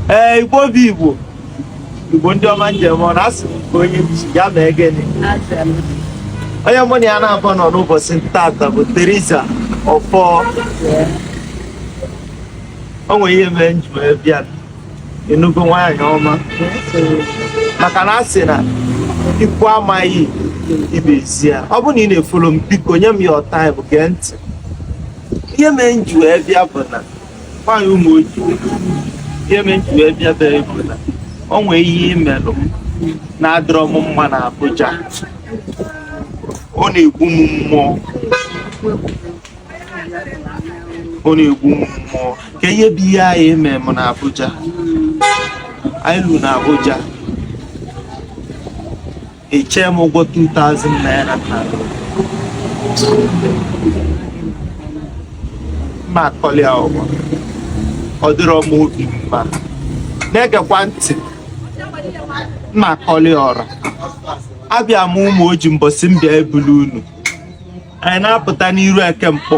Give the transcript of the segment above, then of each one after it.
ee igbo bụ igbo igbo ndị ọma njem ọ na-asị m nke onye chi ya mee gịnị onye mụ na ya na-abụ nọ n'ụbọchị tata bụ Teresa Ọfọ o nwere ihe mere m ji wee bịa ị nụgo nwaanyị ọma maka na a sị na ikwu amaghị ibe ezi ya ọ bụrụ na ị na-efolo m biko nye m your time gee ntị ihe mere m ji wee bịa bụ na nwaanyị Ụmụoji ihe mere m ji wee bịa bee bụ na o nwee ihe i melụ m na-adịrọ m mma na Abuja ọ na-egbu m mmụọ ọ na-egbu m mmụọ ka ihe bụ ihe anyị eme m na Abuja anyị lu na Abuja I chee m ụgwọ 2000 naira m ma akọli ụwa ọ dịrọ m obi mma na-egekwa ntị m ma akọli ọra abịa m Ụmụoji mbọsị m bịa ebulu unu anyị na-apụta n'iru Eke Nkpọ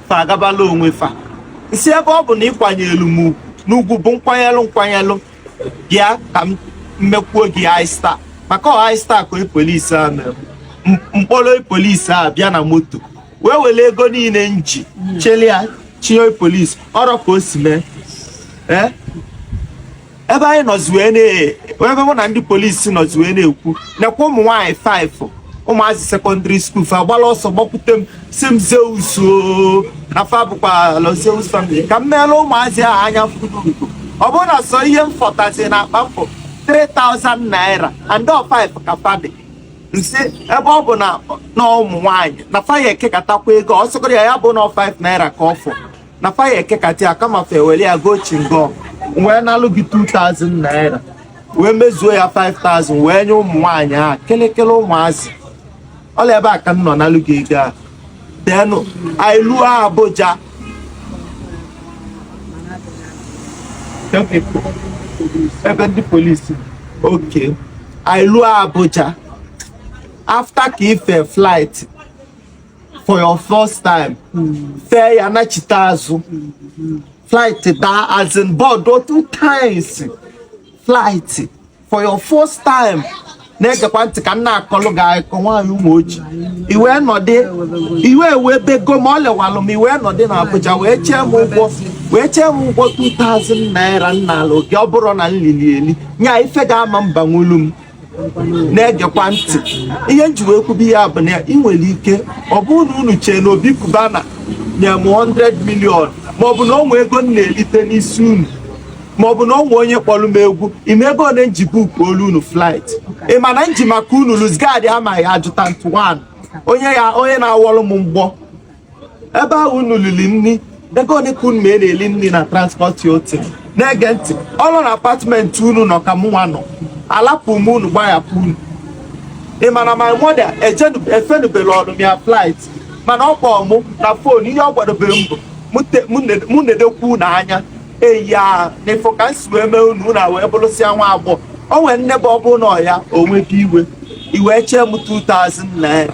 fa agabala onwe fa m sị ebe ọ bụ na ị kwanyelụ m ugwu na ugwu bụ nkwanyelụ nkwanyelụ bịa ka m mekwuo gị Easter maka ọ Easter ka polisi a mere m kpọrọ polisi a bịa na moto wee were ego niile m ji chịlịa chịnye polisi ọrọ ka o si mee ee ebe anyị nọzi wee na ebe mụ na ndị polisi nọzi wee na-ekwu nekwa ụmụ nwaanyị 5 ụmụazị secondary school fa gbara ọsọ gbakwute m sị m Zeus oo, na fa bụkwa Lord Zeus family ka m meela ụmụazị ahụ anya furugo ọ bụrụ na sọ ihe m fọtazi na akpa m bụ 3000 naira and ọ 5 ka fa dị m sị ebe ọ bụ na na ụmụ nwaanyị na fa ya ekekatakwa ego ọ sịgoro ya ya bụ na 5 naira ka ọ fọ na fa ya ekekata ya kama fa ewere ya gọ chewing gum wee nalụ gị 2000 naira wee mezuo ya 5000 wee nye ụmụ nwaanyị a kelekele ụmụazị ọrọ ebe a ka m nọ nalụ gị ego a then anyị luo Abuja ebe ndị polisi okay anyị luo Abuja after ka i fe flight for your first time fee ya nachite azụ flight daa as in board two times flight for your first time na-egekwa ntị ka m na-akọlụ gị akụkọ nwaanyị Ụmụoji i wee nọdị i wee wee bego ma ọ lewalụ m i wee nọdị na Abuja wee chee m ụgwọ wee chee m ụgwọ 2000 naira nna ala oge ọ bụrụ na m lili eli nya ife ga-ama mba nwulu m na-egekwa ntị ihe nji wee kwube ya bụ na ị nwere ike ọ bụrụ na unu chee na obi cubana nye m 100 million maọbụ na o nwe ego m na-erite n'isi unu maọbụ na o nwe onye kpọrọ m egwu ị ma ego ole nji bukuolu unu flight ị ma na nji maka unu lose guard amaghị ajụta ntụ onye ya onye na-awọrọ m mgbọ ebe ahụ unu lili nri ego ole ka unu ma na-eli nri na transport hotel na-ege ntị ụlọ na apartment unu nọ ka mụnwa nọ alapụ m unu gbahapụ unu ị ma na my mother efenuberọ n'ime flight mana ọ kpọọ mụ na fon ihe ọ gwadobere m bụ mụ nedekwu unu anya eya na ị fụ ka m si wee mee unu unu wee bụrụsịa nwa agbọghọ o nwere nne bụ ọ bụrụ na ọ ya onwe gị iwe i wee chee m 2000 naira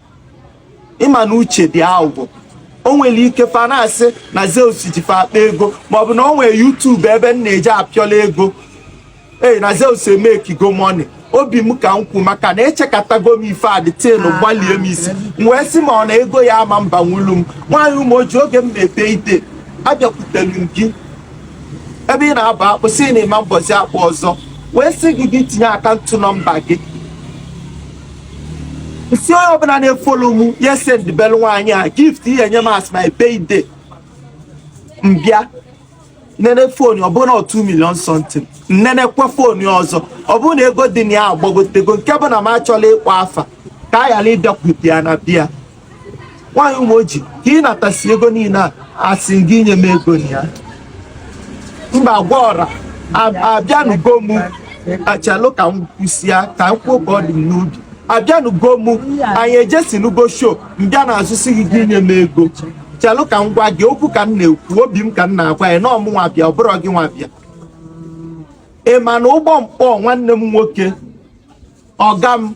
ị ma na uche dị aghụghọ o nwere ike fa na-asị na Zeus ji fa akpa ego maọbụ na o nwere YouTube ebe m na-eji apịọla ego ee na Zeus emekigo money obi m ka m kwu maka na echekatago m ife adịtịlụ ah, gbalie m isi m wee sị ma ọ na ego ya ama mba nwulu m nwaanyị ụmụoji oge m na-eme birthday abịakwutelu m gị ebe ị na-aba akpụ sị na ị ma-abazi akpụ ọzọ wee sị gị gị tinye account number gị si onye ọbụla na-efolo m ya sendbelu nwaanyị a gift ihe nye m as my birthday m bịa nene fon ọbụna 2 million something m nenekwa fon ya ọzọ ọbụna ego dị na ya agbagotego nke bụ na m achọla ịkpọ afa ka a ghara ịbịakwute ya na bịa nwaanyị ụmụoji ka ị natasi ego niile a asị m gị nye m ego na ya mba gwa ọra abịanụgo m chelụ ka m kwusịa ka m kwuo ka ọ dị m n'obi abịanụgo m anyị ejesinugo sho m bịa n'azụ sị gị gị nye m ego chelụ ka m gwa gị okwu ka m na-ekwu obi m ka m na-agwa ya na ọ mụnwa bịa ọ bụrụ gị nwa bịa ị ma na ụgbọ m kpọ nwanne m nwoke ọga m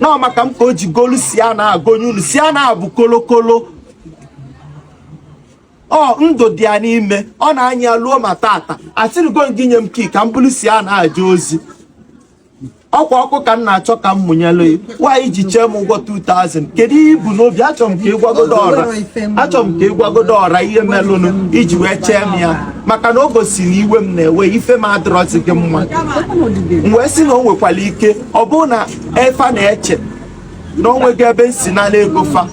na ọ maka m ka o ji golu Sienna gonye unu Sienna a bụ kolokolo ọ ndụ dị ya n'ime ọ na-anya ya luo ma tata asịrịgo gị nye m key ka m bulu Sienna jee ozi ọkwa ọkụ ka m na-achọ ka m mụnyelu ya nwa i ji chee m ụgwọ 2000 kedu ihe i bu n'obi achọrọ m ka ị gwagodo ọra ihe melụnụ i ji wee chee m ya maka na o gosiri iwe m na-ewe ife m adịrọzi gị mma m wee sị na o nwekwara ike ọ bụrụ na efa na-eche na o nwega ebe m si na-ana ego fa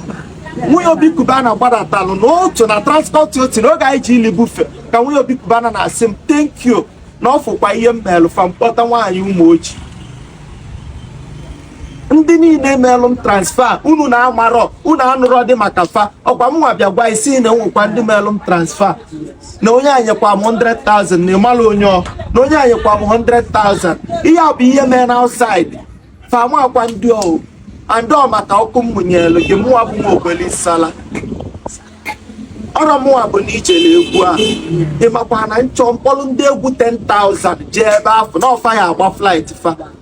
nwunye obi cubana gbadatalụ na otu na transpọtụ otu na oge anyị ji eli buffet ka nwunye obi cubana na-asị m thank you na ọ fụkwa ihe m meelụ fa m kpọta nwaanyị ụmụoji ndị niile meelụ m transfer unu na-amarọ unu anụrọ dị maka fa ọ kwa mụnwa bịa gwa ị sị na enwekwa ndị meelụ m transfer na onye a nyekwa m 100,000 na ị malụ onye ọ na onye a nyekwa m 100,000 ihe a bụ ihe mee na outside fam akwa ndị ọhụ andị ọ maka ọkụ m mụnyelụ gị mụwa bụ nwa ogbeli sala ọrọ mụwa bụ na ije na egwu a ị makwa na nchọ mkpọrọ ndị egwu 10,000 jee ebe afọ na ọ fa ya-agba flight fa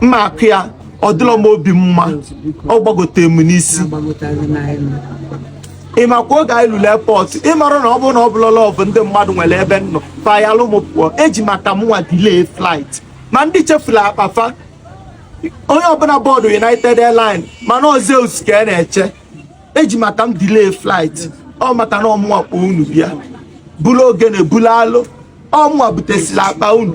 mma akụ ya ọ dịrọ m obi mma ọ gbagotere m n'isi ị makwa oge anyị lulu airport ị mara na ọ bụrụ na ọ bụlọla ọ bụ ndị mmadụ nwere ebe m nọ fayalụ m pụọ e ji maka mụnwa delay flight ma ndị chefuru akpa fa onye ọbụla board united airline mana ọzọ eus ka a na-eche e ji maka m delay flight ọ maka na ọ mụnwa kpọ unu bịa buru ogene buru alo ọ mụnwa butesiri akpa unu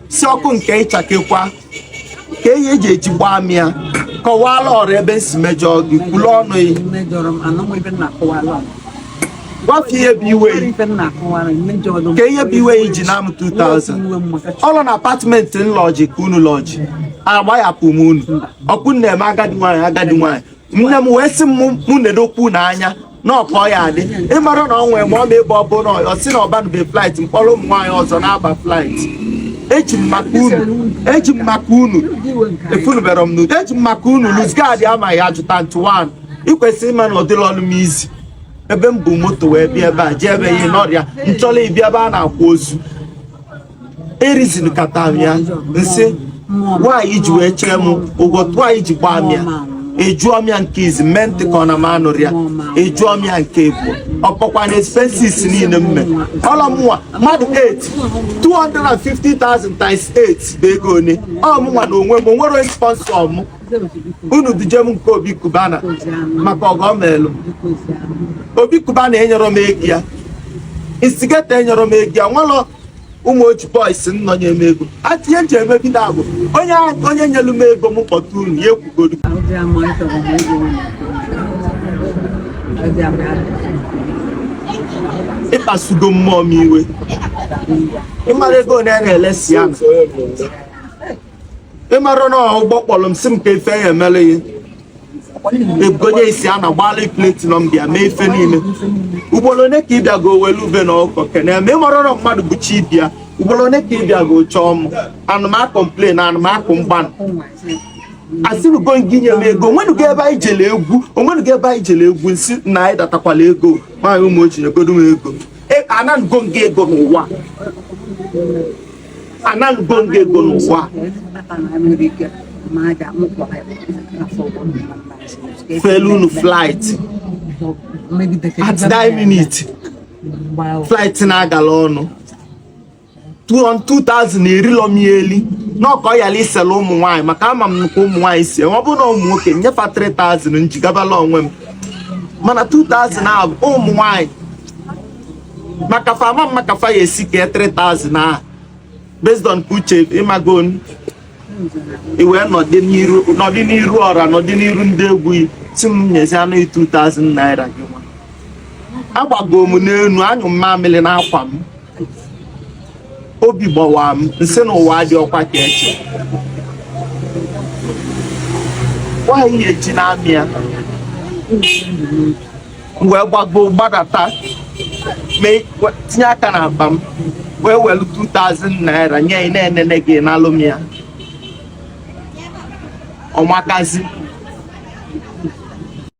si ọkụ nke ịchakekwa ka ihe eji eji gbaa m ya kọwaalụ ọra ebe n si mejọọ gị kwulu ọnụ ya gwa fa ihe bụ iwe ka ihe bụ iwe iji na m 2000 ọ rọ na apartment n lodge ka unu lodge agbaghapụ m unu ọ ka unu na-eme agadi nwaanyị agadi nwaanyị nne m wee sị m mụ na-edokwu n'anya n'ọkọ ya adị ị mara na ọ nwere ma ọ na-ebe ọbụ na ọ si na ọbanube flight mkpọrọ ụmụ nwaanyị ọzọ na-aba flight eji m maka unu eji m maka unu efunubere m n'udo eji m maka unu lose guard amaghị ajụta ntụ wan i kwesịrị ịma na ọ dịrọlụ m easy ebe m bu moto wee bịa ebe a jee ebe ihe n'ọrịa n chọlọ ịbịa ebe a na-akwa ozu e reasonkata m ya n sị nwaanyị ji wee chee m ụgwọ nwaanyị ji gbaa m ya ajụọ m ya nke izizi mee ntị ka ọ na m anụrọ ya ajụọ m ya nke ịbụọ ọ kpọkwa na expenses niile m mee ọ rọ mụnwa mmadụ 8 250,000 times 8 bụ ego one ọ mụnwa na onwe m o nwere onye sponsor m unu duje m nke obi cubana maka ọgọ m elu obi cubana enyerọ m ego ya instigator enyerọ m ego ya nwelọ umuoji boys nọ nye m ego atinye nche eme bi na abụ onye onye nyelu m ego m kpọta unu ya ekwugodu ị kpasugo mmụọ m iwe ị mara ego a na-ele sienna ị mara na ụgbọ kpọrọ m sị m ka ife ya emere ya ebugonye isi a na gbaala platinum bịa mee ife niile ugboro one ka ị bịago welu ube na ọka kene m ị marọ na mmadụ bụ chi ibe ya ugboro one ka ị bịago chọọ m ana m a complain ana m akọ mbanụ asịnugo gị nye m ego o nwenugo ebe anyị jele egwu o nwenugo ebe anyị jele egwu n sị na anyị datakwala ego nwaanyị umuoji nyegodo m ego e, ananugo m gị ego n'ụwa anaghịgo nga ego n'ụwa felu unu flight at that minute flight na-agala ọnụ 2000 erilo m ya eli n'ọkọ yala isela ụmụ nwaanyị maka ama m nnukwu ụmụ nwaanyị sị ọ bụrụ na ụmụ nwoke nye fa 3000 njigabala onwe m mana 2000 a bụ ụmụ nwaanyị maka fa ama m maka fa ya esi kee 3000 ahụ based on uche ịmago i wee nọdị n'iru ọra nọdị n'iru ndị egwu sị m nyezi anụ 2000 naira gị nwa agbago m n'enu anyụọ m mamịrị n'akwa m obi gbawaa m m sị na ụwa dị ọkwa ka eche nwaanyị eji na-amị ya wee gbago gbadata tinye aka n'akpa m wee welu 2000 naira nye ị na-enene gị n'alụ m ya ọmakazi